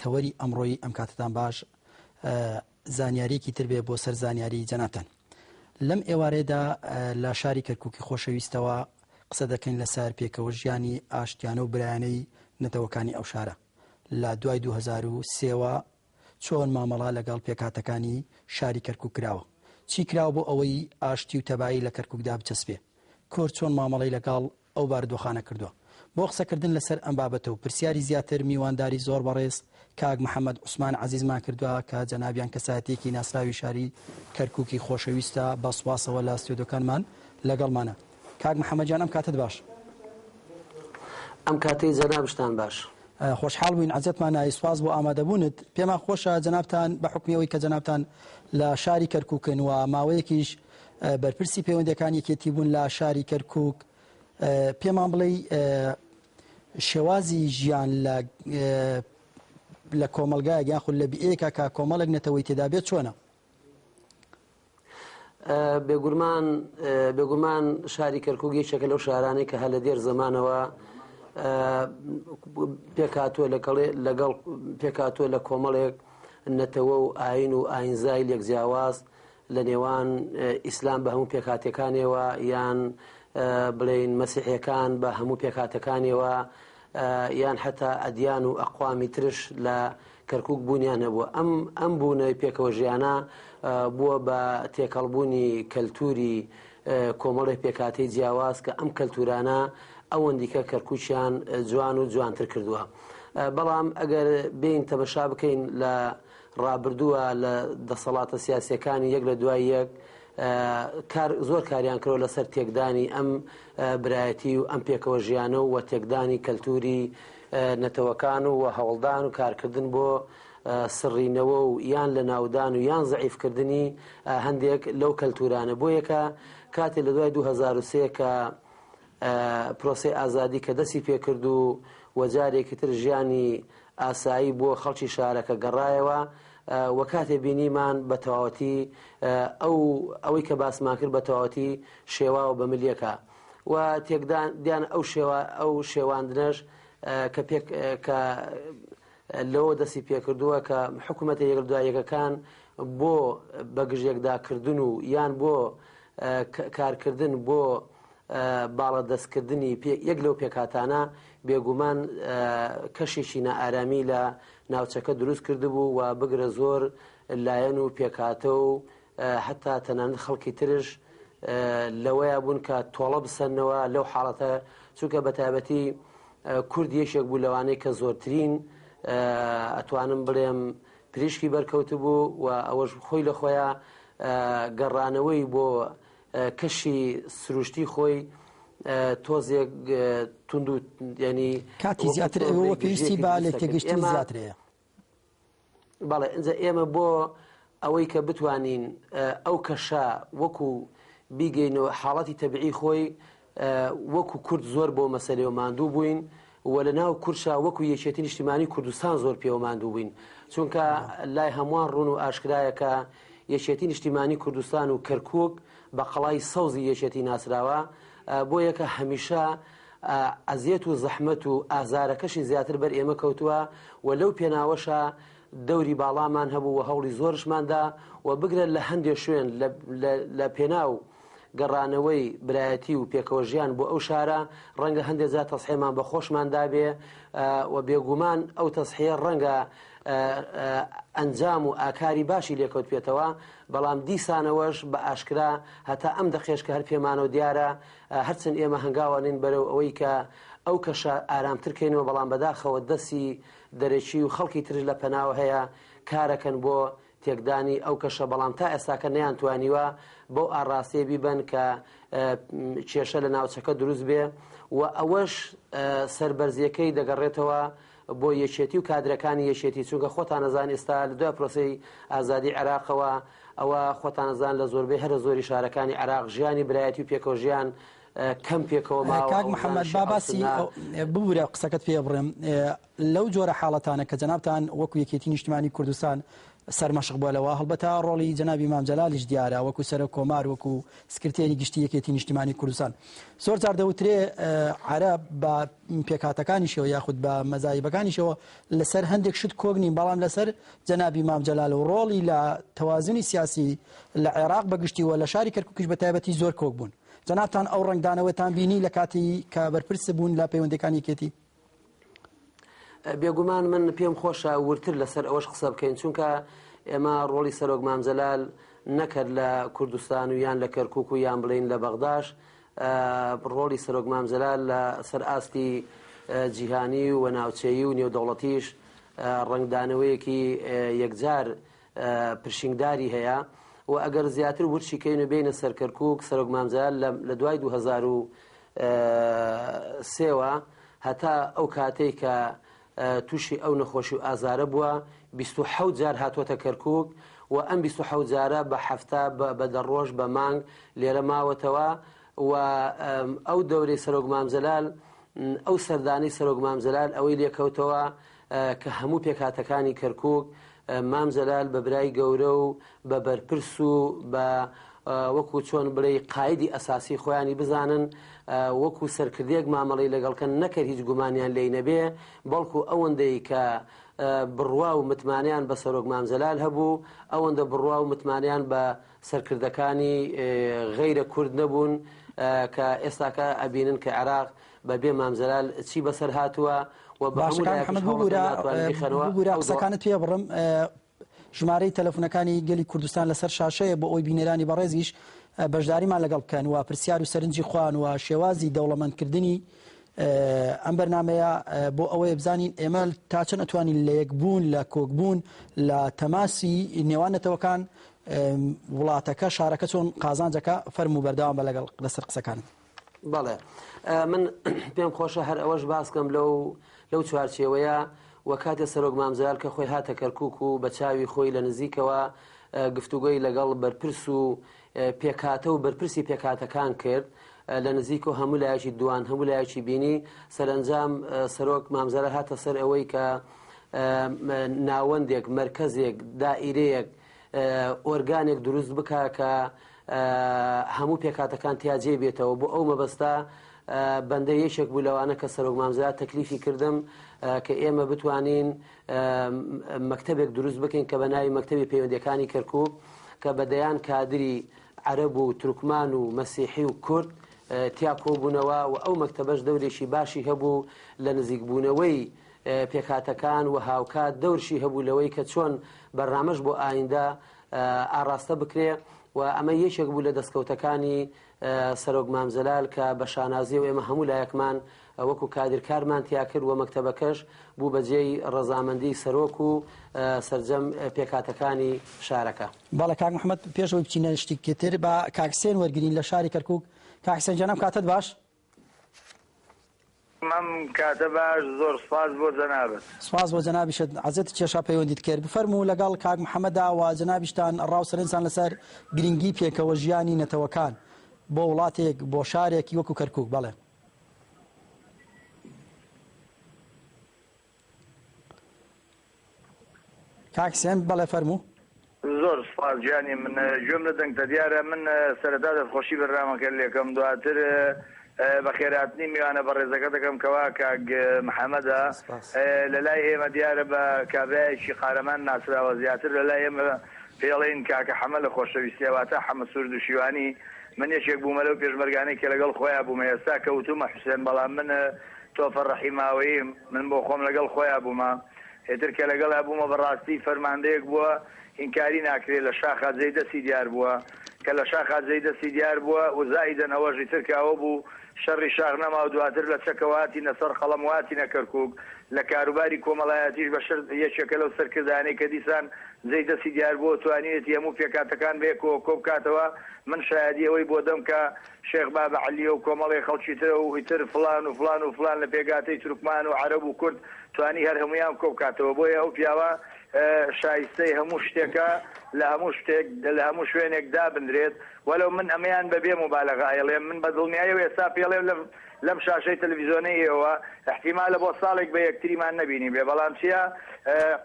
تەوەری ئەمڕۆی ئەم کاتەتان باش زانیاریەکی تر بێ بۆ سەر زانیاری جەنابتان لەم ئێوارێدا لە شاری کەرککی خۆشەویستەوە قسە دەکەین لەسەر پێکەوە ژیانی ئاشتیانە و برایانەی نەتەوەکانی ئەو شارە لە دوای 2023ەوە چۆن مامەڵا لەگەڵ پێکاتەکانی شاری کەرکک کراوە چی کراوە بۆ ئەوەی ئاشتی و تەبایی لە کەرککدا بچەسپێ کۆر چۆن مامەڵی لەگەڵ ئەو باردۆخانە کردووە. بۆ قسەکردن لەسەر ئەم بابەتە و پرسیاری زیاتر میوانداری زۆر بەڕێز کاک محەمەد عوسمان عەزیزمان کردووە کە جەنابیان کەسایەتییەکی ناسراوی شاری کەرکووکی خۆشەویستە بە سوپاسەوە لە ستۆدیۆکانمان لەگەڵمانە. کاک محەمەد گیان ئەم کاتەت باش. ئەم کاتەی جەنابشتان باش. خۆشحاڵ بووین عەزێتمان ناوی سوپاس بۆ ئامادەبوونت. پێمان خۆشە جەنابتان بە حوکمی ئەوەی کە جەنابتان لە شاری کەرکووکن و ماوەیەکیش، بەرپرسی پەیوەندەکان یەکێتی بوون لە شاری کەرکک پێمان بڵێ شێوازی ژیان لە لە کۆمەلگای گیان خول لە بئێکا کا کۆمەڵک نەتەوەی تێدا بێت چۆنە بێگورمان بێگومان شاری کەرکوگی چەکە لەو شارانەی کە هە لە دێر زمانەوە پێکاتوە لەگەڵێ لەگەڵ پێکاتوە لە کۆمەڵێک نەتەوە و ئاین و ئاینزای لێک جیاواز لە نێوان ئیسلام بە هەموو پێکهاتەکانیەوە یان بڵێین مەسیحیەکان بە هەموو پێکهاتەکانیەوە یان حتا ئەدیان و ئەقوامی ترش لە کەرکک بوونیان هەبووە ئەم ئەم بوونەوەی پێکەوە ژیانە بووە بە تێکەڵبوونی کەلتوری کۆمەڵی پێکاتی جیاواز کە ئەم کەلتورانە ئەوەندیکە کەرکوچیان جوان و جوانتر کردووە بەڵام ئەگەر بین تەمەشا بکەین لە ڕابردووە لە دەسەڵاتە سیاسیەکانی یەک لە دوای یەک کار زۆر کاریان کرۆ لەسەر تێکدانی ئەم برایەتی و ئەم پێکەوە ژیانە و وە تێکدانی کەلتوری نەتەوەکان و هەوڵدان و کارکردن بۆ سڕینەوە و یان لە ناودان و یان زعیفکردنی هەندێک لەو کەلتورانە بۆ یەکە کاتی لە دوای 2023 کە پرۆسەی ئازادی کە دەستی پێکرد و و جارێکی تر ژیانی ئاسایی بۆ خەڵکی شارەکە گەڕایەوە و کاتێ بینیمان بە تەواوەتی ئەو ئەوەی کە باسمان کرد بە تەواوەتی شێواوە بە ملیەکە و تێکدان دیان ئەو شێوا ئەو شێواندنەش کە پێک کە لەوە دەستی پێکردووە کە حکومەتە یەک لەدوای یەکەکان بۆ بەگژیەکداکردن و یان بۆ کارکردن بۆ باڵەدەستکردنی یەک لەو پێکهاتانە بێگومان کەشێکی نائارامی لە ناوچەکە دروست کردبوو و بگرە زۆر لایەن و پێکهاتە و هەتا تەنانەت خەڵکی ترش لەوەیا بوون کە تۆڵە بسەنەوە لەو حاڵەتە چونکە بەتابەتی کورد یەکێک بوو لەوانەیە کە زۆرترین ئەتوانم بڵێم پریشکی بەرکەوت بوو و ئەوەش خۆی لە خۆیان گەڕانەوەی بۆ کەشی سروشتی خۆی تۆزێک تونند و ینی کاتی زیاتر ئەوە پێویستی با لێ تێگەشتنی زیاترەیە بەڵێ ئینجا ئێمە بۆ ئەوەی کە بتوانین ئەو کەشە وەکو بیگەینەوە حاڵەتی تەبعی خۆی وەکو کورد زۆر بۆ مەسەلەوە ماندوو بووین و لە ناو کورشا وەکو یەکێتی نیشتیمانی کوردستان زۆر پێوە ماندوو بووین چونکە لای هەمووان ڕوون و ئاشکرایەکە یەکێتی نیشتیمانی کوردستان و کەرکک بە قەڵای سەوزی یەکێتی ناسراوە بۆ یەکە هەمیشە ئەزیەت و زەحمەت و ئازارەکەشی زیاتر بەر ئێمە کەوتووە و لەو پێناوەشە دەوری باڵامان هەبوو و هەوڵی زۆرشمان دا و بگرە لە هەندێ شوێن لە پێناو گەڕانەوەی برایەتی و پێکەوە ژیان بۆ ئەو شارە ڕەنگە هەندێک جار تەسحێمان بە خۆشمان دابێ و بێگومان ئەو تەسحەیە ڕەنگە ئەنجام و ئاکاری باشی لێکەوت پێێتەوە بەڵام دیسانەوەش بە ئاشکرا هەتا ئەم دەقێش کە هەر پێمانەوە دیارە هەرچەند ئێمە هەنگاوانین بەرەو ئەوەی کە ئەو کەشە ئارامتر کەینەوە بەڵام بەداخەوە دەسی دەرەکی و خەڵکی ترش لە پەناوە هەیە کارەکەن بۆ تێکدانی ئەو کەشە بەڵام تا ئێستاکە نەیان توانیوە بەو ئاڕاستەیە بیبەن کە کێشە لە ناوچەکە دروست بێ و ئەوەش سەربەرزیەکەی دەگەڕێتەوە بۆ یەکێتی و کادرەکانی یەکێتی چونکە خۆتان ئەزان ئێستا لە دوای پرۆسەی ئازادی عێراقەوە ئەوە خۆتان ئەزان لە زۆربەی هەرە زۆری شارەکانی عێراق ژیانی برایەتی و پێکەوە ژیان کەم پێکەوە ماوە کاک محمد با باسی ببورە قسەکەت پێ بڕێم لەو جۆرە حاڵەتانە کە جنابتان وەکو یەکێتی نیشتمانی کوردستان سەرمەشق بووە لەوە هەڵبەتا ڕۆڵی جنابی مام جەلالیش دیارە وەکو سەرە کۆمار وەکو سکرتێری گشتی یەکێتی نیشتمانی کوردستان زۆر جار دەوترێ عرب بە پێکهاتەکانیشەوە یاخود بە مەزاهیبەکانیشەوە لەسەر هەندێک شت کۆک نین بەڵام لەسەر جەنابی مام جەلال و ڕۆڵی لە تەوازنی سیاسی لە عێراق بەگشتی و لە شاری کەرکوکیش بە تایبەتی زۆر کۆک بوون جەنابتان ئەو ڕەنگدانەوەتان بینی لە کاتی کە بەرپرس بوون لە پەیوەندەکانی کێتی بێگومان من پێم خۆشە ورتر لەسەر ئەوەش قسە بکەین چونکە ئێمە ڕۆڵی سەرۆک مامجلال نەکرد لە کوردستان و یان لە کەرکک و یان بڵین لە بەغداش ڕۆڵی سەرۆک مام جەلال لە سەر ئاستی جیهانی و ناوچەیی و نێودەوڵەتیش ڕەنگدانەوەیەکی یەکجار پرشنگداری هەیە و ئەگەر زیاتر ورچی کەین و بێینە سەر کەرکووک سەرۆک مام جەلال لە دوای 2023 وە هەتا ئەو کاتەی کە تووشی ئەو نەخۆشی و ئازارە بووە، بیست و حەوت جار هاتووەتە کەرکووک و ئەم بیست و حەوت جارە بە هەفتە، بە دە ڕۆژ، بە مانگ لێرە ماوەتەوە و ئەو دەورەی سەرۆک مام جەلال، ئەو سەردانەی سەرۆک مام جەلال ئەوەی لێ کەوتەوە کە هەموو پێکهاتەکانی کەرکووک مام جەلال بە برای گەورە و بە بەرپرس و بە وەکو چۆن بڵێی قایدی ئەساسی خۆیانی بزانن وەکو سەرکردێک مامەڵی لەگەڵکەن نەکرد هیچ گومانیان لی نەبێ بەڵکو ئەوەندەی کە بڕوا و متمانیان بە سەرۆک مامزلال هەبوو ئەوەندە بڕوا و متمانیان بە سەرکردەکانی غیرە کورد نەبوون کە ئێستاکە ئەبینن کە عێراق بە بێ مامزلال چی بەسەر هاتووە و باشەکان حەمەد بگورە قسەکانت پێ بڕم ژمارەی تەلەفونەکانی گەلی کوردستان لەسەر شاشەیە بۆ ئەوەی بینەرانی بەڕێزیش بەشداریمان لەگەڵ بکەن و پرسیار و سەرنجی خۆیان و شێوازی دەوڵەمەندکردنی ئەم بەرنمەیە بۆ ئەوەیە بزانین ئێمە تا چەند ئەتوانین لە یەکبوون لە کۆکبوون لە تەماسی نێوان نەتەوەکان وڵاتەکە شارەکە چۆن قازانجەکە فەرموو بەردەوام بە لەگەڵ لەسەر قسەکانت. بەڵێ من پێم خۆشە هەر ئەوەش باسکەم لەو لەو چوارچێوەیە و کاتێ سەرۆک مامزال کە خۆی هاتە کەرکک و بە چاوی خۆی لە نزیکەوە گفتوگۆی لەگەڵ بەرپرس و پێکاتە و بەرپرسی پێکاتەکان کرد لە نزیک و هەموو لایەکی دوان هەموو لایەکی بینی سەرنجام سەرۆک مامزارە هاتە سەر ئەوەی کە ناوەندێک مرکزێک دائیرەیەک ئۆرگانێک دروست بکە کە هەموو پێکاتەکان تیا جێ بێتەوە بۆ ئەو مەبەستە بەندە یەکێک بوو لەوانە کە سەرۆک مامزرا تەکلیفی کردم کە ئێمە بتوانین مەکتتەبێک دروست بکەین کە بە ناوی مەکتتەبی پەیوەندەکانی کەرکک کە بە دەیان کادری عەرەب و ترکمان و مەسیحی و کورد تیا کۆبوونەوە و ئەو مەکتتەبەش دەورێکی باشی هەبوو لە نزیکبوونەوەی پێکهاتەکان و هاوکات دەورشی هەبوو لەوەی کە چۆن بەرنامەش بۆ ئایندە ئاڕاستە بکرێ و ئەمە یەکێک بوو لە دەستکەوتەکانی سەرۆک مامزلال کە بە شانازی و ئێمە هەموو لایەکمان وەکو کادرکارمان تیاکرد و مەکتەبەکەش بوو بەجێی ڕەزامەندی سەرۆک و سرجەم پێکاتەکانی شارەکە بەڵێ کاک محمد پێشەوەی بچینە شتیکتر بە کاکسێن وەرگین لە شاری کەرکک کاکسێنجانم کاتت باش مام کاتە باش زۆر سوپاس بۆ جەنابت. سوپاس بۆ جەنابیشت عەزێتت کێشا پەیوەندیت کرد بفەرموو لەگەڵ کاک محمدە و جەنابیشتان ڕاو سەرنجتان لەسەر گرینگی پێکەوە ژیانی نەتەوەکان بۆ وڵاتێک بۆ شارێک ی وەکو کەرکوک بەڵێ کاک سێم بەڵێ فەرموو. زۆر سوپاس گیانی من گوێم لە دەنگتە دیارە من سەرەتا دەستخۆشی بەرنامەکە لێکەم دواتر بەخێراتنی میوانە بەڕێزەکە دەکەم کەوا کاک محەمەدە لەلای ئێمە دیارە بە کابرایەکی قارەمان ناسراوە زیاتر لەلای ئێمە پێڵین کاکە حەمە لە خۆشەویستیە واتە حەمە سوور دوشیوانی من یەکێک بوومە لەو پێشمەرگانەی کە لەگەڵ خۆیان بوومە ئێستا کە وتومە حوسێن بەڵام من تۆفە ڕەحیماوەیی من بۆ خۆم لەگەڵ خۆیا بوومە ئێتر کە لەگەڵیا بوومە بەڕاستی فەرماندەیەک بووە هینکاری ناکرێ لە شاخا جێی دەستی دیار بووە کە لە شاخا جێی دەستی دیار بووە و زائیدەن ئەوەش ئیتر کە ئەوە بوو شەڕی شاخ نەما و دواتر لە چەکەوە هاتینە سەر قەڵەم و هاتینە کەرکوک لە کاروباری کۆمەڵایەتیش بەشەر یەکێکە لەو سەرکردانەی کە دیسان جێی دەستی دیار بووە و توانیوێتی هەموو پێکهاتەکان بەیەکەوە کۆ بکاتەوە من شایەدی ئەوەی بۆ دەم کە شێخ بابە عەلییە و کۆمەڵێ خەڵکی ترە و ئیتر فڵان و فڵان و فڵان لە پێگاتەی تورکمان و عەرەب و کورد توانی هەر هەموویان کۆ بکاتەوە بۆیە ئەو پیاوە شایستەی هەموو شتێکە لە هەموو شتێک لە هەموو شوێنێک دابنرێت وەلەو من ئەمەیان بە بێ موبالەغە ئەیڵێم من بە دڵنیایی و ئێستا پێڵێم لەم لەم شاشەی تەلەفیزۆنەی ئێوە ئیحتیمالە بۆ ساڵێک بە یەکتریمان نەبینیبێ بەڵام چیا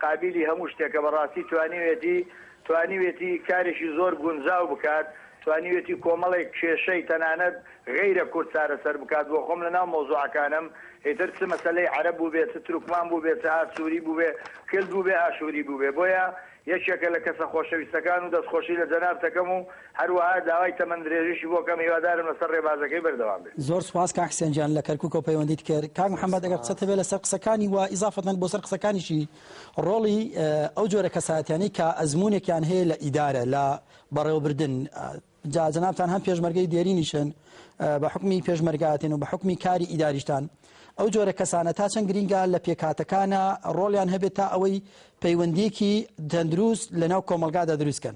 قابیلی هەموو شتێکە بەڕاستی توانیوێتی توانیوێتی کارێکی زۆر گونجاو بکات، توانیوێتی کۆمەڵێک کێشەی تەنانەت غەیرە کورد چارەسەر بکات، بۆ خۆم لەناو مەوزوعەکانم ئیتر چ مەسەلەی عەرەب بووبێ، چ تورکمان بووبێ، چ ئاسووری بووبێ، کلد بووبێ، ئاشووری بووبێ، بۆیە یەکێکە لە کەسە خۆشەویستەکان و دەستخۆشی لە جەنابت دەکەم و هەروەها داوای تەمەن درێژیشی بۆ کەم، هیوادارم لەسەر رێبازەکەی بەردەوام بێ. زۆر سوپاس کاک حسێن گیان لە کەرکوکەوە پەیوەندیت کرد. کاک محەمەد ئەگەر قسەت هەبێ لەسەر قسەکانی و ئیزافەتەن بۆ سەر قسەکانیشی. ڕۆڵی ئەو جۆرە کەسایەتیانەی کە ئەزموونێکیان هەیە لە ئیدارە، لە بەڕێوەبردن، جا جەنابتان هەم پێشمەرگەی دێرینیشن، بە حوکمی پێشمەرگایەتین و بە حوکمی کاری ئیداریشتان، ئەو جۆرە کەسانە تا چەند گرینگە لە پێکهاتەکانە ڕۆڵیان هەبێت تا ئەوەی پەیوەندییەکی تەندروست لەناو کۆمەڵگادا دروست کەن؟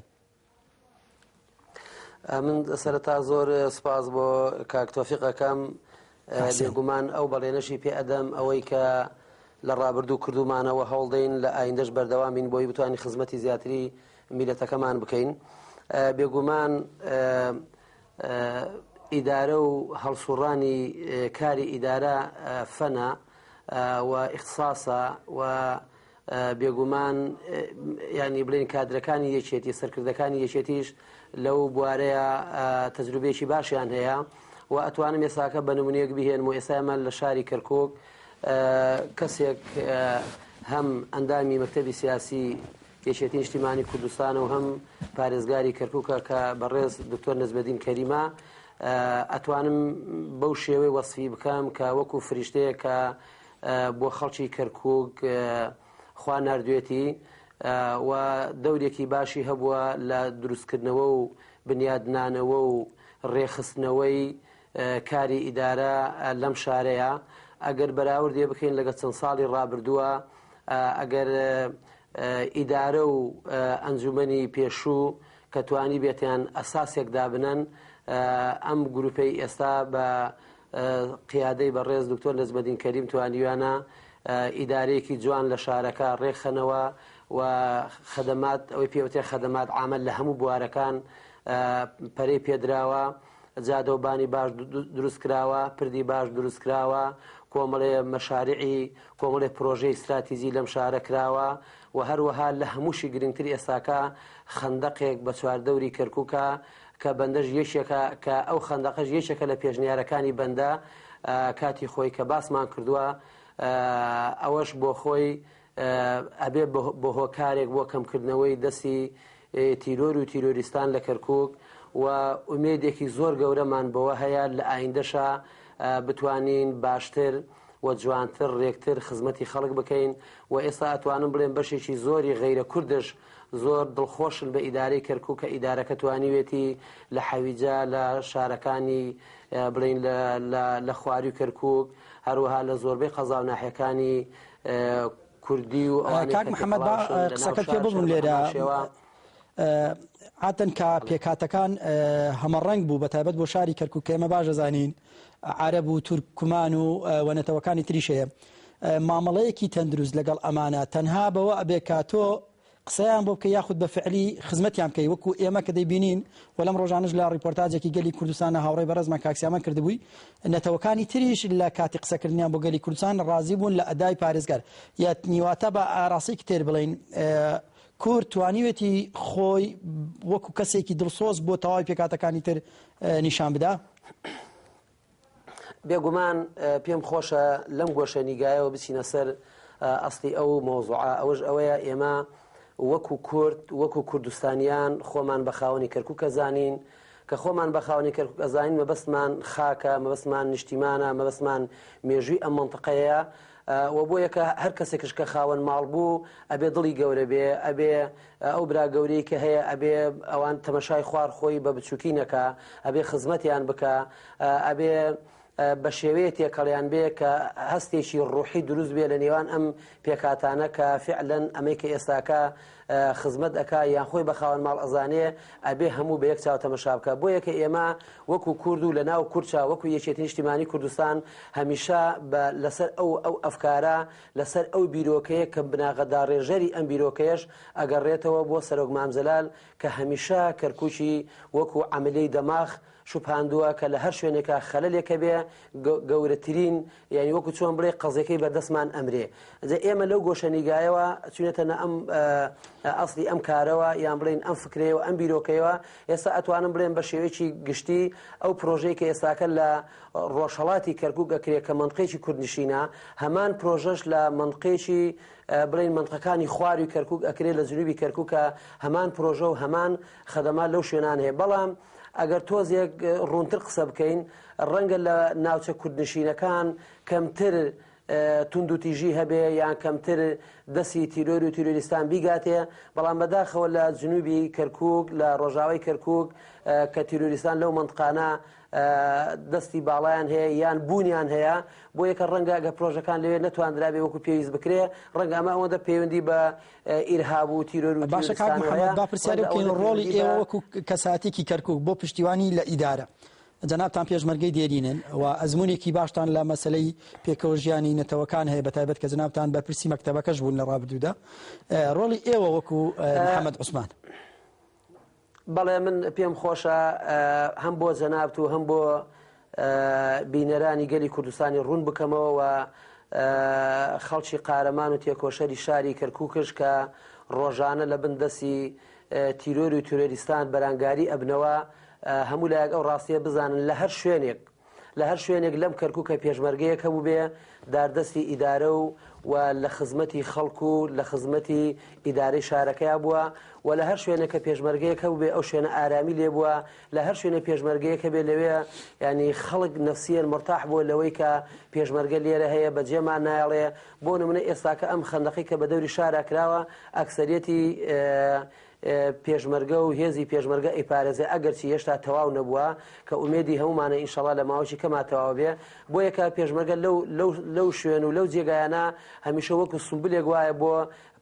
من سەرەتا زۆر سپاس بۆ کاکتۆفیقەکەم بێگومان ئەو بەڵێنەشی پێ ئەدەم ئەوەی کە لە ڕابردوو کردومانەوە هەوڵدەین لە ئایندەش بەردەوامین بۆی بتوانین خزمەتی زیاتری میلەتەکەمان بکەین بێگومان ئیدارە و هەڵسوڕانی کاری ئیدارە فەنە و ئیختصاسە و بێگومان ینی بڵین کادرەکانی یەکێتی سەرکردەکانی یەکێتیش لەو بوارەیە تەجروبێکی باشیان هەیە و ئەتوانم ێساکە بە نمونونێک بهێن و ئێسامە لە شاری کەرکک کەسێک هەم ئەندامی مەکتتەبی سیاسی یەکێتی نیشتیمانی کوردستان و هەم پارێزگاری کەرککە کە بەڕێز دکتۆر نزبەدین کەریمە ئەتوانم بەو شێوەی وەسفی بکەم کە وەکو فریشتەیە کە بۆ خەڵکی کەرکووک خوا ناردوێتی و دەورێکی باشی هەبووە لە دروستکردنەوە و بنیادنانەوە و ڕێخستنەوەی کاری ئیدارە لەم شارەیە ئەگەر بەراوردێ بکەین لەگە چەند ساڵی ڕابردووە ئەگەر ئیدارە و ئەنجومنی پێشوو کە توانی بێتیان ئەساسێک دابنەن ئەم گروپەی ئێستا بە قیادەی بەڕێز دکتۆر نەجمەدین کەریم توانیویانە ئیدارەیەکی جوان لە شارەکە ڕێکخەنەوە و خەدەمات ئەوەی پێوتێ خەدەمات ئامل لە هەموو بوارەکان پەرەی پێدراوە جادەوبانی باش دروست کراوە پردی باش دروست کراوە کۆمەڵێ مەشارعی کۆمەڵێ پرۆژەی استراتیزی لەم شارە کراوە و هەروەها لە هەمووشی گرنگتر ئێساکە خندەقێک بە چواردەوری کەرکووکە کە بەندەش یەکێکە کە ئەو خەندەقەش یەکێکە لە پێشنیارەکانی بەندە کاتی خۆی کە باسمان کردووە ئەوەش بۆ خۆی ئەبێ بۆ هۆکارێک بۆ کەمکردنەوەی دەستی تیرۆر و تیرۆریستان لە کەرکک و ئومێدێکی زۆر گەورەمان بەوە هەیە لە ئایندەشە بتوانین باشتر و جوانتر رێکتر خزمەتی خەڵک بکەین و ئێستا ئەتوانم بڵێن بەشێکی زۆری غیرە کوردش زۆر دڵخۆشن بە ئیدارەی کەرکوک کە ئیدارەکە توانیوێتی لە حەویجە لە شارەکانی بڵین لە لە لە خواری کەرکوک هەروەها لە زۆربەی قەزا و ناحەکانی کوردی و کاک محەممەد با قسەکە پێ ببووم لێرە عادەن کە پێکاتەکان هەمەڕەنگ بوو بە تایبەت بۆ شاری کەرکک کە ئێمە باش دەزانین عرب و تورکمان و وەنەتەوەکانی تریش هەیە مامەڵەیەکی تەندروست لەگەڵ ئەمانە تەنها بەوە ئەبێ کا تۆ قسەیان بۆ بکەی یاخود بە فعلی خزمەتیان بکەی وەکو ئێمە کە دەیبینین و لەم ڕۆژانەش لە ڕیپۆرتاجێکی گەلی کوردستان هاوڕێی بەڕێزمان کاک سیامەن کردبووی نەتەوەکانی تریش لە کاتی قسەکردنیان بۆ گەلی کوردستان ڕازی بوون لە ئەدای پارێزگار یا نیواتە بە ئاراستێکی تر بڵین کورد توانیوێتی خۆی وەکو کەسێکی دڵسۆز بۆ تەواوی پێکاتەکانی تر نیشان بدا بێگومان پێم خۆشە لەم گۆشە نیگایەوە بچینە سەر ئەستی ئەو مۆزوعە ئەوەش ئەوەیە ئێمە وەکو کورد وەکو کوردستانیان خۆمان بە خاوەنی کەرکووکە زانین کە خۆمان بە خاوەنی کەرکک ئەزانین مەبەستمان خاکە مەبەستمان نیشتیمانە مەبەستمان مێژووی ئەم منطقەیە وە بۆیە کە هەر کەسێکش کە خاوەن ماڵ بوو ئەبێ دڵی گەورە بێ ئەبێ ئەو برا گەورەی کە هەیە ئەبێ ئەوان تەمەشای خوار خۆی بە بچوکی نەکا ئەبێ خزمەتیان بکا ئەبێ بە شێوەیە تێکەڵیان بێ کە هەستێکی ڕوحی دروست بێ لە نێوان ئەم پێکاتانە کە فعلەن ئەمەی کە ئێستاکە خزمەت ئەکا یان خۆی بە خاوەن ماڵ ئەزانێ ئەبێ هەموو بە یەک چاو تەمەشا بکە بۆیە کە ئێمە وەکو کورد و لە ناو کورچا وەکو یەکێتی نیشتیمانی کوردستان هەمیشە بە لەسەر ئەو ئەو ئەفکارە لەسەر ئەو بیرۆکەیە کە بناغە داڕێژەری ئەم بیرۆکەیەش ئەگەڕێتەوە بۆ سەرۆک مام جەلال کە هەمیشە کەرکووکی وەکو عەملیەی دەماخ شوبهاندووە کە لە هەر شوێنێکا خەلەلێک هەبێ گەورەترین یانی وەکو چۆن بڵێ قەزیەکەی بەردەستمان ئەمرێ جا ئێمە لەو گۆشە نیگایەوە چونێتە نە ئەم ئەاصلی ئەم کارەوە یان بڵین ئەم فکرەیەوە ئەم بیرۆکەیەوە ئێستا ئەتوانم بڵێن بە شێوەیەکی گشتی ئەو پرۆژەی کە ئێستاکە لە ڕۆژهڵاتی کەرکووکە کرێ کە منقێکی کوردنشینە هەمان پرۆژەش لە منقێکی بڵین منقەکانی خواری کەرکک ئەکرێت لە جنوبی کەرککە هەمان پرۆژە و هەمان خەدەما لەو شوێنان هەیە بەڵام ئەگەر تۆزێک ڕوونتر قسە بکەین ڕەنگە لە ناوچە کوردنشینەکان کەمتر توندوتیژی هەبێ یان کەمتر دەستی تیرۆر و تیرۆریستان بیگاتێ بەڵام بەداخەوە لە جنوبی کەرکک لە ڕۆژاوای کەرکک کە تیرۆریستان لەو منطقانە دەستی باڵیان هەیە یان بوونیان هەیە بۆ یەکە ڕەنگە گە پرۆژەکان لەوێ نەتواندرابێ وەکو پێویست بکرێ ڕەنگە ئەمە ئەوەندە پەیوەندی بە ئیرهاب و تیرۆر و باشەکان ڕۆڵی ئێوە وەکو کەساتێکی کەرکک بۆ پشتیوانی لە ئیدارە جەنابتان پێشمەرگەی دێرینن و ئەزموونێکی باشتان لە مەسەلەی پێکەوە ژیانی نەتەوەکان هەیە بەتایبەت کە جەنابتان بەرپرسی مەکتەبەکەش بوون لە ڕابردوودا ڕۆڵی ئێوە وەکو محەممەد عوسمان. بەڵێ من پێم خۆشە هەم بۆ جەنابت و هەم بۆ بینەرانی گەلی کوردستانی ڕوون بکەمەوە و خەڵکی قارەمان و تێکۆشەری شاری کەرکووکش کە ڕۆژانە لە بن دەسی تیرۆر و تیرۆریستان بەرانگاری ئەبنەوە هەموو لایەک ئەو ڕاستیە بزانن لە هەر شوێنێک لە هەر شوێنێک لەم کەرکووکە پێشمەرگەیەک هەبوو بێ داردەستی ئیدارە و و لە خزمەتی خەڵکو و لە خزمەتی ئیدارەی شارەکەیا بووە و لە هەر شوێنەکە پێشمەرگەیەک هەبوو بێ ئەو شوێنە ئارامی لێ بووە لە هەر شوێنە پێشمەرگەیەکە بێ لەوێ ینی خەڵک نفسیەن مرتاح بووە لەوەی کە پێشمەرگە لێرە هەیە بەجێمان نایڵێ بۆ نمونە ئێستاکە ئەم خەندەقەی کە بە دەوری شارا کراوە ئەکسەریەتی پێشمەرگە و هێزی پێشمەرگە ئەیپارێزێ ئەگەرچی هێشتا تەواو نەبووە کە ئومێدی هەمومانە ئینشەڵا لە ماوەی کەما تەواو بێ بۆ یەکە پێشمەرگە لەو لەو لەو شوێن و لەو جێگایانە هەمیشە وەکو سمبلێک وایە بۆ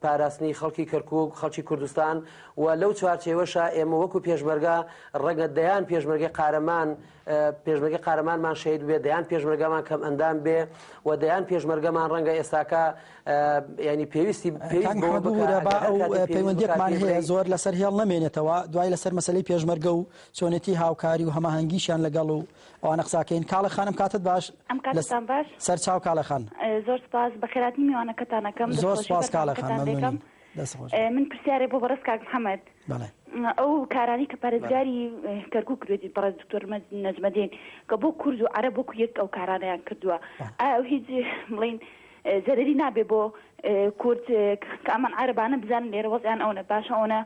پاراستنی خەڵکی کەرکک خەڵکی کوردستان و لەو چوارچێوەشە ئێمە وەکو پێشمەرگە ڕەگە دەیان پێشمەرگی قارەمان پێشمەرگەی قارەمانمان شەهید بێ دەیان پێشمەرگەمان کەم ئەندام بێ و دەیان پێشمەرگەمان ڕەنگە ئێستاکە ینی پێویستی پەیوەندیمان هەیە زۆر لەسەر هێڵ نامێنێتەوە دوای لەسەر مەسلەی پێشمەرگە و چۆنێتی هاوکاری و هەماهنگگیشیان لەگەڵ و ئەوانە قساکەین کاڵە خانم کاتت باش ئەم کاتتان باش سەرچاو کاڵەخان زۆر سپاس بەخێراتنی میوانەکەتانەکەم زۆر سپاس کاڵەکەم. دەست خۆش. من پرسیارێ بۆ بەڕێز کاک محەمەد ئەو کارانەی کە پارێزگاری کەرکوک کردێتی بەڕێز دکتۆر نەجمەدین کە بۆ کورد و عەرە بۆ کویەک ئەو کارانەیان کردووە ئەو هیچ بڵین زەرری نابێ بۆ کورد کە ئەمان عربانە بزانن لێرە وەزیان ئەوە باشە ئەوە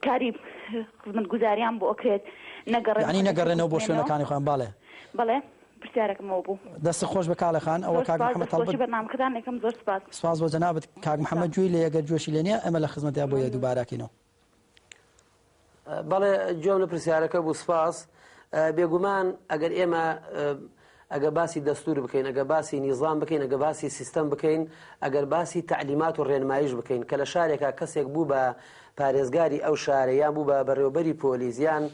کاری خزمەت گوزاریان بۆ ئەکرێت نەگەڕێنەوە بۆ شوێنەکانی خۆیان باڵێ بڵێ پرسیارەکم ئەوە بوو. دەستت خۆش بێ کاڵێ خان. ئەوە زۆر کاک سوپاس محمد دەست خۆشی تەڵبەت. بەرنامەکەتان ئەکەم زۆر سوپاس. سوپاس بۆ جەنابت. کاک محمد گوێی لێیە گەر گوێشی لێ نیە ئێمە لە خزمەتیا بۆیە دووبارە ئەکەینەوە. بەڵێ گوێم لە پرسیارەکە بوو سوپاس. بێگومان ئەگەر ئێمە ئەگە باسی دەستور بکەین ئەگە باسی نیزام بکەین ئەگە باسی سیستەم بکەین ئەگەر باسی تەعلیمات و ڕێنمایش بکەین کە لە شارێکا کەسێک بوو بە پارێزگاری ئەو شارە یان بوو بە بەڕێوەبەری پۆلیس یان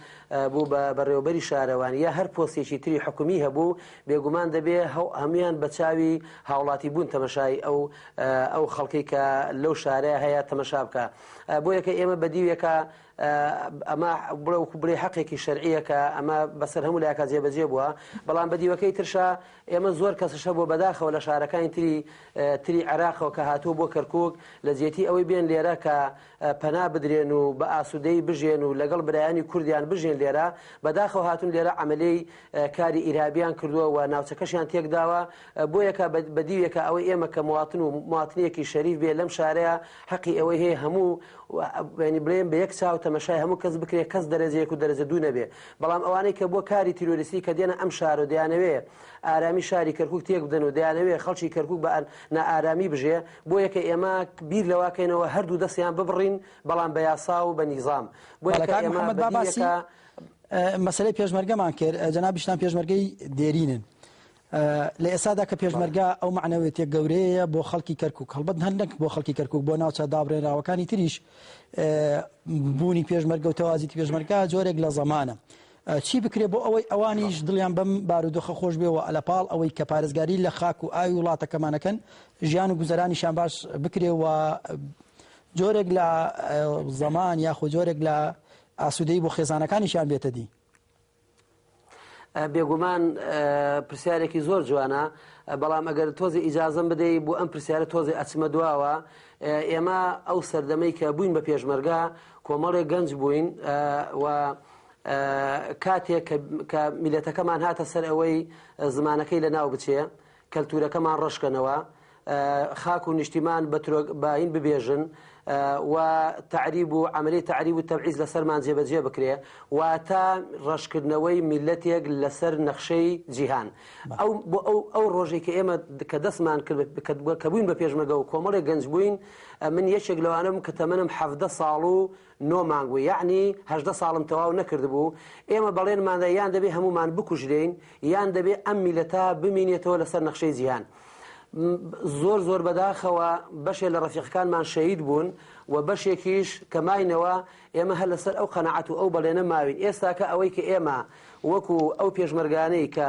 بوو بە بەڕێوەبەری شارەوانی یا هەر پۆستێکی تری حکومی هەبوو بێگومان دەبێ هەموان بە چاوی هاوڵاتی بوون تەمەشای ئەو ئەو خەڵکەی کە لەو شارە هەیە تەمەشا بکە بۆ یەکە ئێمە بەدیوێکە ئەمە بڵێ وکو بڵێ حەقێکی شەرعیەکە ئەمە بەسەر هەموو لایەکە جێبەجێ بووە بەڵام بەدیوەکەی ترشا ئێمە زۆر کەسش هەبووە بەداخەوە لە شارەکانی تری تری عێراقەوە کە هاتووە بۆ کەرکوک لە جێتی ئەوەی بێن لێرە کە پەنا بدرێن و بە ئاسوودەی بژێن و لەگەڵ برایانی کوردیان بژێن لێرە بەداخەوە هاتون لێرە عملی کاری ئیرهابیان کردووە و ناوچەکەشیان تێکداوە بۆ یەکە بەدیوێکە ئەوەی ئێمە کە مواتن و مواتنیەکی شەریف بێ لەم شارەیە حەقی ئەوەی هەیە هەموو بڵێن بە یەک چاو تەمەشای هەموو کەس بکرێت کەس دەرەجەیەک و دەرەجە دوو نەبێ بەڵام ئەوانەی کە بۆ کاری تیرۆریستی کە دێنە ئەم شارو دەیانەوێ ئارامی شاری کەرکوک تێک بدەن و دەیانەوێ خەڵکی کەرکوک بە نائارامی بژێ بۆ یەکە ئێمە بیر لەواکەینەوە هەردوو دەستیان ببڕین بەڵام بە یاسا و بە نیزام بۆ یەکە ئێمە بە دیل یەکە مەسەلەی پێشمەرگەمان کرد جەنابیشتان پێشمەرگەی دێرینن. لە ئێستادا کە پێشمەرگە ئەو مەعنەوێتیە گەورەیەیە بۆ خەڵکی کەرکوک هەڵبەت هەر نەک بۆ خەڵکی کەرکوک بۆ ناوچە دابڕێنراوەکانی تریش بوونی پێشمەرگە و تەوازیتی پێشمەرگە جۆرێک لە زەمانە چی بکرێ بۆ ئەوەی ئەوانیش دڵیان بەم بارودۆخە خۆش بێ و لە پاڵ ئەوەی کە پارێزگاری لە خاک و ئاوی وڵاتەکەمانەکەن ژیان و گوزەرانیشان باش بکرێ و جۆرێک لە زەمان یاخود جۆرێک لە ئاسوودەی بۆ خێزانەکانیشیان بێتە دی بێگومان پرسیارێکی زۆر جوانە بەڵام ئەگەر تۆزی ئیجازم بدەی بۆ ئەم پرسیارە تۆزی ئەچمە دواوە ئێمە ئەو سەردەمەی کە بووین بە پێشمەرگا کۆمەڵێک گەنج بووین و کاتێک کە میلەتەکەمان هاتە سەر ئەوەی زمانەکەی لە ناو بچێ کەلتورەکەمان ڕەشکەنەوە خاک و نیشتیمان بە ترۆک باین ببێژن و تعریب و عملی تعریب و تەبعیز لەسەرمان جێبەجێ بکرێ واتە ڕەشکردنەوەی میلەتێک لەسەر نەخشەی جیهان ئەو بۆ ئەو ئەو ڕۆژێک کە ئێمە کە دەستمان کرد کە بووین بە پێشمەگە و کۆمەڵی گەنج بووین من یەکێک لەوانم کە تەمەنم حەفدە ساڵ و نۆ مانگ و یەعنی هەژدە ساڵم تەواو نەکردبوو، ئێمە بەڵێنماندا یان دەبێ هەموومان بکوژرێین یان دەبێ ئەم میللەتە بمینێتەوە لەسەر نەخشەی جیهان. زۆر زۆر بەداخەوە بەشێ لە ڕەفیقەکانمان شەهید بوون و بەشێکیش کە ماینەوە ئێمە هەر لەسەر ئەو قەناعەت و ئەو بەڵێنە ماوین ئێستاکە ئەوەی کە ئێمە وەکوو ئەو پێشمەرگانەی کە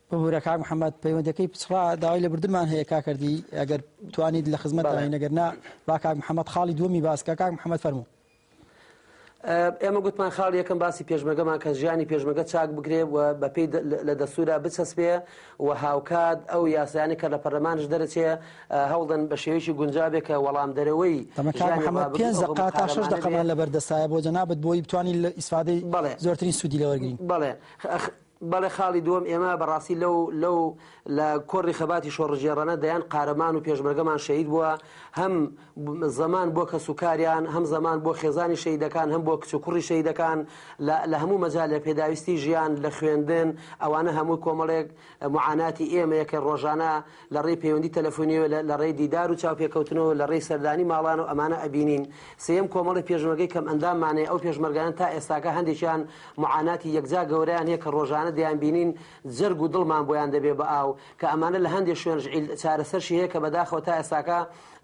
ببورە کاک محمد پەیوەندەکەی پچڕا داوای لەبردنمان هەیە کاکەردی ئەگەر توانیت لە خزمەت داین نەگەر نا با کاک محمد خاڵی دووەمی باسکە کاک محمد فەرموو ئێمە گوتمان خاڵ یەکەم باسی پێشمەگەمان کە ژیانی پێشمەگە چاک بگرێ و بەپی لە دەسوورا بچەسپێ و هاوکات ئەو یاسایانی کە لە پەرلەمانش دەرەچێ هەوڵدەن بە شێوەیەکی گونجابێ کە وەڵام دەرەوەی تا شش دقەمان لەبەردەستایە بۆ جەنابەت بۆی بتوانین لە ئیسفادەی زۆرترین سوودی لەوەرگین بڵێ بەڵێ خاڵی دووەم ئێمە بەڕاستی لەو لەو لە کۆڕی خەباتی شۆڕشگێڕانە دەیان قارەمان و پێشمەرگەمان شەهید بووە هەم زەمان بۆ کەس و کاریان هەم زەمان بۆ خێزانی شەیدەکان هەم بۆ کچ و کوڕی شەیدەکان لە هەموو مەجال لە پێداویستی ژیان لە خوێندن ئەوانە هەموو کۆمەڵێک معاناتی ئێمەیە کە ڕۆژانە لە ڕێی پەیوەندی تەلەفۆنیەوە لە لە ڕێی دیدار و چاوپێکەوتنەوە لە ڕێی سەردانی ماڵانەوە ئەمانە ئەبینین سێیەم کۆمەڵی پێشمەرگەی کەم ئەنداممان هەیە ئەو پێشمەرگانە تا ئێستاکە هەندێکیان معاناتی یەکجا گەورەیان هەیە کە ڕۆژانە دەیانبینین جەرگ و دڵمان بۆیان دەبێ بە ئاو کە ئەمانە لە هەندێ شوێنش عیل چارەسەرشی هەیە کە بەداخەوە تا ئێستاکە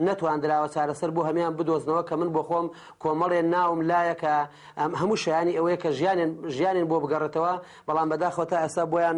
نەتواندراوە چارەسەر بۆ هەمیان بدۆزنەوە کە من بۆخۆم کۆمەڵێ ناوم لایە کە هەموو شایانی ئەوەیە کە ژیانێن ژیانێن بۆ بگەڕێتەوە بەڵام بەداخەوە تا ئێستا بۆیان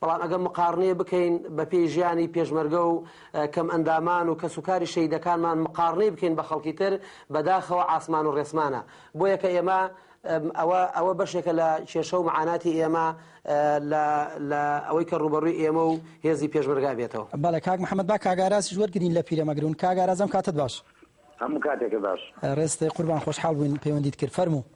بەڵام ئەگەر مقاڕنەیە بکەین بە پێی ژیانی پێشمەرگە و کەم ئەندامان و کەس و کاری شەیدەکانمان مقاڕنەی بکەین بە خەڵکی تر بەداخەوە عاسمان و ڕێسمانە بۆیە کە ئێمە ئەوە ئەوە بەشێکە لە کێشە و معاناتی ئێمە لە ئەوەی کە ڕوبەڕووی ئێمە و هێزی پێشمەرگا بێتەوە بەڵێ کاک محمد با کاگاراز وەرگین لە پیرەمەگرون کاگارازم کاتت باش هەموو کاتێکە باش ڕێستی قوربان خۆشحاڵ بووین پەیوەندیت کرد فەرموو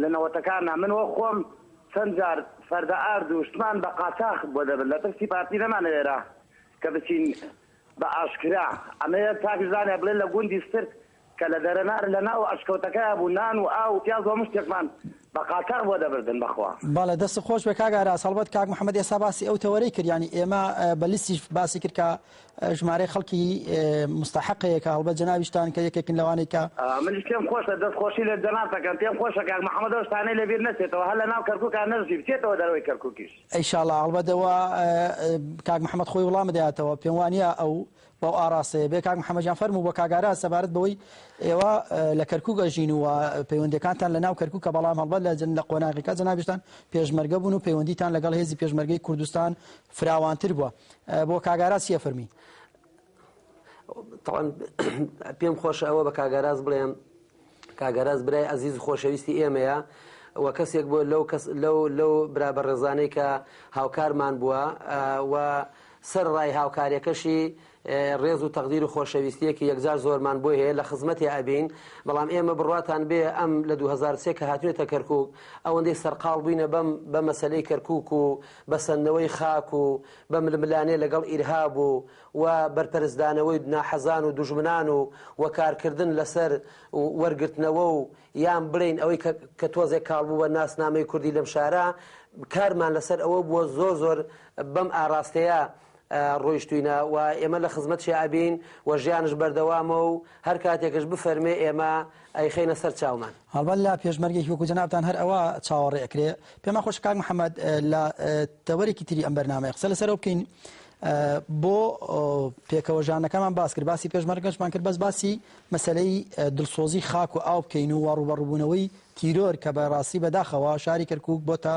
لە نەوەتەکاندا من وەک خۆم چەند جار فەردە ئارد و شتمان بە قاچاخ بۆ دەبرد لە ترسی پارتی نەمانەوێرا کە بچین بە ئاشکرا ئەمەوێت چاکیش زانیار بڵێن لە گوندی سترک کە لە دەرەنار لە ناو ئەشکەوتەکەیا بوو نان و ئاو و پیاز و هەموو شتێکمان بە قاچاخ بۆ دەبردن بەخوا. بەڵێ دەستت خۆش بێ کاک ئاراس هەڵبەت کاک محمد ئێستا باسی ئەو تەوەرەی کرد یانی ئێمە بە لسیش باسی کرد کە ژمارەی خەڵکی مستحقەیە کە هەڵبەت جەنابیشتان کە یەکێکن لەوانەی کە منیش پێم خۆشە دەست خۆشی لە جەناب تەکەم پێم خۆشە کاک محمد ئەو شتانەی لەبیر نەچێتەوە هەر لەناو کەرکوکا نەژی بچێتەوە دەرەوەی کەرکوکیش. ئە شاڵا هەڵبەت ئەوە کاک محمد خۆی وڵام بداتەوە پێم وانیە ئەو بەو ئاراستەیە بێ کاک محمد جان فەرموو بە کاک ئاراس سەبارەت بەوەی ئێوە لە کەرکوک ئەژین و پەیوەندەکانتان لەناو کەرکوکە بەڵام هەڵبەت لە جن لە قۆناغیکا جەنابیشتان پێشمەرگە بوون و پەیوەندیتان لەگەڵ هێزی پێشمەرگەی کوردستان فراوانتر بوە بۆ کاک ئاراس چیە فەرمی. تەڵەن پێم خۆشە ئەوە بە کاگەراز بڵێم کاگەراز برای ئەزیز خۆشەویستی ئێمەیە و کەسێک بۆ لەو کەس لەو لەو برا بە ڕێزانەی کە هاوکارمان بووە و سەر ڕای هاوکارەکەشی ڕێز و تەقدیر و خۆشەویستیەکی یەکجار زۆرمان بۆی هەیە لە خزمەتێ ئەبین بەڵام ئێمە بڕواتان بێ ئەم لە 2023 کە هاتوێتە کەرکوک ئەوەندەی سەرقاڵ بووینە بەم بە مەسەلەی کەرکوک و بەسەندنەوەی خاک و بە ململانێ لەگەڵ ئیرهاب و و بەرپەرچدانەوەی ناحەزان و دوژمنان و و کارکردن لەسەر وەرگرتنەوە و یان بڵێین ئەوەی کە کە تۆزێک کاڵ بوو بە ناسنامەی کوردی لەم شارە کارمان لەسەر ئەوە بووە زۆر زۆر بەم ئاراستەیە ڕۆیشتوینە و ئێمە لە خزمەتشیا ئەبین و ژیانش بەردەوامە و هەر کاتێکش بفەرمێ ئێمە ئەیخەینە سەر چاومان. هەڵبەت لە پێشمەرگێکی وەکو جەنابتان هەر ئەوە چاوەڕێ ئەکرێ. پێمان خۆشە کاک محەمەد لە تەوەرێکی تری ئەم بەرنامەیە قسە لەسەرەوە بکەین بۆ پێکەوە ژانەکەمان باس کرد باسی پێشمەرگەشمان کرد بەس باسی مەسلەی دڵسۆزی خاک و ئاو بکەین و ڕوبەڕوبوونەوەی تیرۆر کە بە ڕاستی بەداخەوە شاری کەرکک بۆتە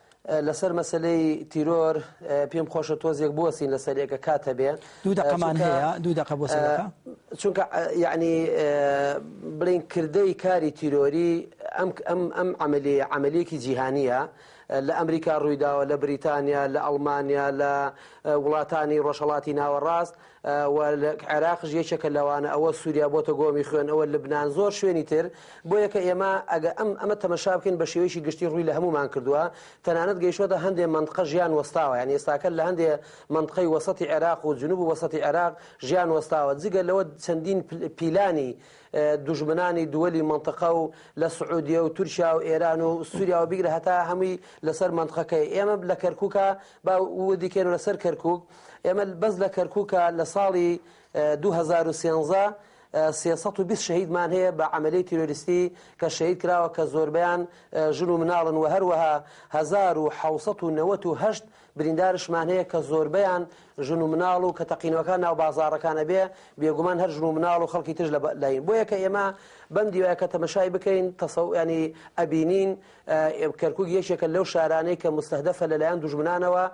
لەسەر مەسەلەی تیرۆر پێم خۆشە تۆزێک بوەسین لەسەر ێکە کات هەبێ دوو دەقەمان هەیە دوو دەقە بۆ چونکە یعنی بڵین کردەی کاری تیرۆری ئەم ئەم ئەم عملی عملێکی جیهانیە لە ئەمریکا ڕوویداوە لە بریتانیا لە ئەڵمانیا لە وڵاتانی ڕۆژهڵاتی ناوەڕاست و عێراقش یەکێکە لەوانە ئەوە سووریا بۆتە گۆمی خوێن ئەوە لبنان زۆر شوێنی تر بۆ یەکە ئێمە ئەگە ئەم ئەمە تەمەشا بکەین بە شێوەیەکی گشتی ڕووی لە هەمومان کردووە تەنانەت گەیشتوەتە هەندێ منتقە ژیان وەستاوە یان ئێستاکە لە هەندێ منتقەی وەسەتی عێراق و جنوب و وەسەتی عێراق ژیان وەستاوە جگە لەوە چەندین پیلانی دوژمنانی دووەلی منتقە و لە سعودیە و تورکیا و ئێران و سووریاوە بیگرە هەتا هەمووی لەسەر منتقەکەی ئێمە لە کەرکووکە با وردیکەین لەسەر کەرکوک ئێمە بەس لە کەرکوکە لە ساڵی دوو هەزار و سێزدە سێ سەد و بیست شەهیدمان هەیە بە عەمەلیەی تیرۆریستی کە شەهید کراوە کە زۆربەیان ژن و مناڵن و هەروەها هەزار و حەوت سەد و نەوەت و هەشت بریندارشمان هەیە کە زۆربەیان ژن و مناڵ و کە تەقینەوەکان ناو بازاڕەکان ئەبێ بێگومان هەر ژن و مناڵ و خەڵکی ترش لە لایین بۆیە کە ئێمە بەم دیوایە کە تەمەشای بکەین تەسەو ینی ئەبینین کەرکوک یەکێکە لەو شارانەی کە موستەهدەفە لەلایەن دوژمنانەوە،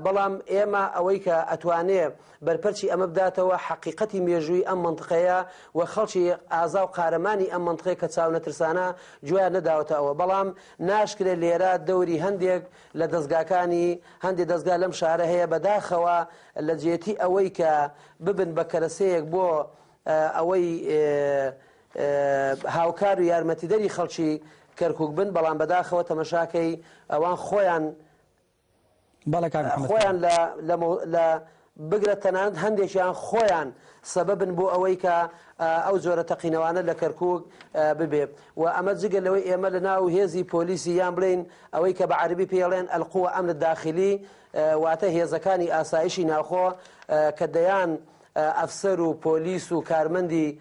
بەڵام ئێمە ئەوەی کە ئەتوانێ بەرپەرچی ئەمە بداتەوە حەقیقەتی مێژووی ئەم مەنتقەیە و خەڵکی ئازا و قارەمانی ئەم مەنتقەیە کە چاونەترسانە گوێیان نەداوەتە ئەوە، بەڵام ناشکرێ لێرە دەوری هەندێک لە دەزگاکانی هەندێ دەزگا لەم شارە هەیە بەداخەوە لەجێتی ئەوەی کە ببن بە کەرەسەیەک بۆ ئەوەی هاوکار و یارمەتیدەری خەڵکی کەرکوک بن بەڵام بەداخەوە تەمەشاکەی ئەوان خۆیان خۆیان لە بگرە تەنانەت هەندێکیان خۆیان سەبەبن بۆ ئەوەی کە ئەو جۆرە تەقینەوانە لە کەرکک ببێ و ئەمە جگە لەوەی ئێمە لە ناو هێزی پۆلیسی یان بڵین ئەوەی کە بە عربی پێڵێن ئەلقووە ئەمن داخلی واتە هێزەکانی ئاسایشی ناوخۆ کە دەیان ئەفسەر و پۆلیس و کارمەندی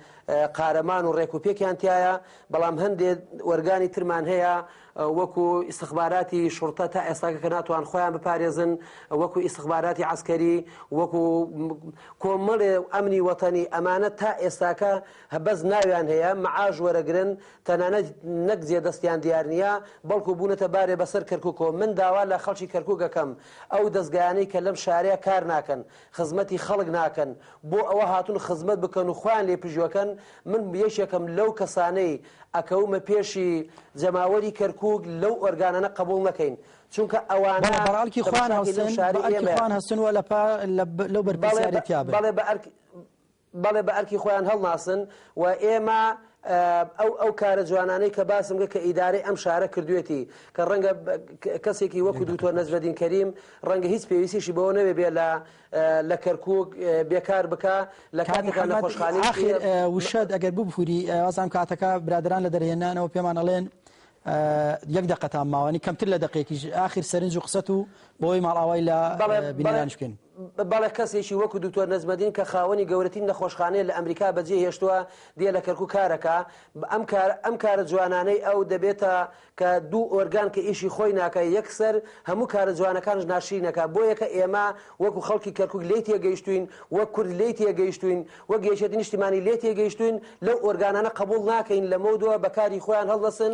قارەمان و ڕێک و پێکیان تیایە، بەڵام هەندێ ئۆرگانی ترمان هەیە وەکو ئیستخباراتی شوڕتە تا ئێستاکە کە ناتوان خۆیان بپارێزن، وەکو ئیستخباراتی عەسکەری، وەکو کۆمەڵێ ئەمنی وەتەنی، ئەمانە تا ئێستاکە بەس ناویان هەیە، مەعاش وەرەگرن، تەنانەت نەک جێ دەستیان دیار نییە، بەڵکو بوونەتە بارێ بەسەر کەرکوکەوە، من داوا لە خەڵکی کەرکوک ئەکەم ئەو دەزگایانەی کە لەم شارە کار ناکەن، خزمەتی خەڵک ناکەن بۆ ئەوە هاتون خزمەت بکەن و خۆیان لێ پژوەکەن من یەکێکم لەو کەسانەی ئەکەومە پێشی جەماوەری کەرکوک لەو ئۆرگانانە قبوڵ نەکەین چونکە ئەوانە بەڵێ بە ئەرکی خوان هەستن و لە پا لەو بەرپرسیارێتیا بن. بەڵێ بە ئەرکی خۆیان هەڵناسن و ئێمە ئەو ئەو کارە جوانانەی کە باسم کرد کە ئیدارەی ئەم شارە کردوێتی کە ڕەنگە کەسێکی وەکو دوکتۆر نەجمەدین کەریم ڕەنگە هیچ پێویستیشی بەوە نەوێ بێ لە لە کەرکک بێکار بکە لە کاتەکان لە خۆشخانی ئاخر وشەت ئەگەر ببووری ئازان کاتەکە برادران لە دەرهێنانەوە پێمان ئەڵێن یەک دقەتان ماوەنی کەمتر لە دقێکیش ئاخر سەرنج و قسەت و بۆی ماڵاوای لە بینەرانشکن بەڵێ کەسێکی وەکو دکتۆر نەجمەدین کە خاوەنی گەورەتین نەخۆشخانەیە لە ئەمریکا بەجێ هێشتووە دێ لە کەرکوک کارەکا ئەم کار ئەم کارە جوانانەی ئەو دەبێتە کە دوو ئۆرگان کە ئیشی خۆی ناکە یەکسەر هەموو کارە جوانەکانش ناشرینەکە بۆ یەکە ئێمە وەکو خەڵکی کەرکوک لی تێگەیشتوین وەک کورد لی تێگەیشتوین وەک یەکێتی نیشتیمانی لێ تێگەیشتوین لەو ئۆرگانانە قبول ناکەین لەمەودوا بەکاری خۆیان هەڵدەسن